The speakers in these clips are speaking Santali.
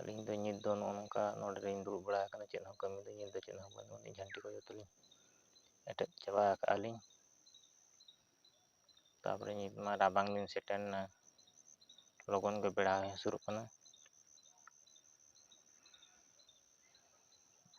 ᱟᱹᱞᱤᱧ ᱫᱚ ᱱᱤᱛ ᱫᱚ ᱱᱚᱜᱼᱚ ᱱᱚᱝᱠᱟ ᱱᱚᱰᱮ ᱞᱤᱧ ᱫᱩᱲᱩᱵ ᱵᱟᱲᱟ ᱟᱠᱟᱱᱟ ᱪᱮᱫ ᱦᱚᱸ ᱠᱟᱹᱢᱤ ᱫᱚ ᱱᱤᱛ ᱫᱚ ᱪᱮᱫ ᱦᱚᱸ ᱵᱟᱹᱱᱩᱜ ᱟᱹᱱᱤᱡ ᱡᱷᱟᱹᱱᱴᱤ ᱠᱚ ᱡᱚᱛᱚ ᱞᱤᱧ ᱮᱴᱮᱫ ᱪᱟᱵᱟ ᱟᱠᱟᱫᱼᱟ ᱞᱤᱧ ᱛᱟᱨᱯᱚᱨᱮ ᱱᱤᱛ ᱢᱟ ᱨᱟᱵᱟᱝ ᱫᱤᱱ ᱥᱮᱴᱮᱨ ᱮᱱᱟ ᱞᱚᱜᱚᱱ ᱜᱮ ᱵᱮᱲᱟ ᱦᱚᱸᱭ ᱦᱟᱹᱥᱩᱨᱚᱜ ᱠᱟᱱᱟ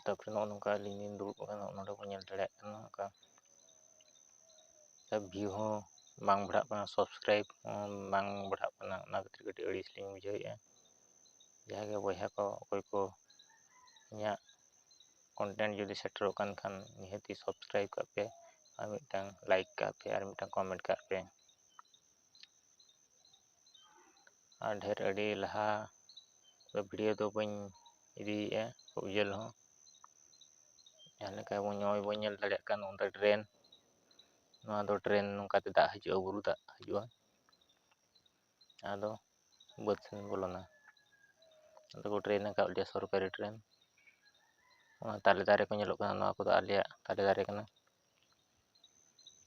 ᱛᱟᱯᱚᱨᱮ ᱱᱚᱜᱼᱚ ᱱᱚᱝᱠᱟ ᱟᱹᱞᱤᱧ ᱞᱤᱧ ᱫᱩᱲᱩᱵ ᱟᱠᱟᱱᱟ ᱱᱚᱜᱼᱚ ᱱᱚᱸᱰᱮ ᱵᱚᱱ ᱧᱮᱞ ᱫᱟᱲᱮᱭᱟᱜ ᱠᱟᱱᱟ ᱚᱱᱠᱟ ᱵᱷᱤᱭᱩ ᱦᱚᱸ ᱵᱟᱝ ᱵᱟᱲᱦᱟᱜ ᱠᱟᱱᱟ ᱥᱟᱵᱥᱠᱨᱟᱭᱤᱵᱽ ᱦᱚᱸ ᱵᱟᱝ ᱵᱟᱲᱦᱟᱜ ᱠᱟᱱᱟ ᱚᱱᱟ ᱠᱷᱟᱹᱛᱤᱨ ᱠᱟᱹᱴᱤᱡ ᱟᱹᱲᱤᱥ ᱞᱤᱧ ᱵᱩᱡᱷᱟᱹᱣᱮᱫᱼᱟ ᱡᱟᱦᱟᱸᱭ ᱜᱮ ᱵᱚᱭᱦᱟ ᱠᱚ ᱚᱠᱚᱭ ᱠᱚ ᱤᱧᱟᱹᱜ ᱠᱚᱱᱴᱮᱱᱴ ᱡᱩᱫᱤ ᱥᱮᱴᱮᱨᱚᱜ ᱠᱟᱱ ᱠᱷᱟᱱ ᱱᱤᱦᱟᱹᱛᱤ ᱥᱟᱵᱥᱠᱨᱟᱭᱤᱵᱽ ᱠᱟᱜ ᱯᱮ ᱟᱨ ᱢᱤᱫᱴᱟᱝ ᱞᱟᱭᱤᱠ ᱠᱟᱜ ᱯᱮ ᱟᱨ ᱢᱤᱫᱴᱟᱝ ᱠᱚᱢᱮᱱᱴ ᱠᱟᱜ ᱯᱮ ᱟᱨ ᱰᱷᱮᱨ ᱟᱹᱰᱤ ᱞᱟᱦᱟ ᱫᱚ ᱵᱷᱤᱰᱭᱳ ᱫᱚ ᱵᱟᱹᱧ ᱤᱫᱤᱭᱮᱜᱼᱟ ᱠᱷᱩᱵ ᱡᱷᱟᱹᱞ ᱦᱚᱸ ᱡᱟᱦᱟᱸ ᱞᱮᱠᱟ ᱵᱚᱱ ᱱᱚᱜᱼᱚᱭ ᱵᱚᱱ ᱧᱮᱞ ᱫᱟᱲᱮᱭᱟᱜ ᱠᱟᱱ ᱱᱚᱸᱰᱮ ᱰᱨᱮᱱ ᱱᱚᱣᱟ ᱫᱚ ᱰᱨᱮᱱ ᱱᱚᱝᱠᱟ ᱛᱮ ᱫᱟᱜ ᱦᱤᱡᱩᱜᱼᱟ ᱵᱩᱨᱩ ᱫᱟᱜ ᱦᱤᱡᱩᱜᱼᱟ ᱟᱫᱚ ᱵᱟᱹᱫᱽ ᱥᱮᱱ ᱵᱚᱞᱚᱱᱟ ᱟᱫᱚ ᱠᱚ ᱰᱨᱮᱱ ᱟᱠᱟᱫ ᱞᱮᱭᱟ ᱥᱚᱨᱠᱟᱨᱤ ᱰᱨᱮᱱ ᱚᱱᱟ ᱛᱟᱞᱮ ᱫᱟᱨᱮ ᱠᱚ ᱧᱮᱞᱚᱜ ᱠᱟᱱᱟ ᱱᱚᱣᱟ ᱠᱚᱫᱚ ᱟᱞᱮᱭᱟᱜ ᱛᱟᱞᱮ ᱫᱟᱨᱮ ᱠᱟᱱᱟ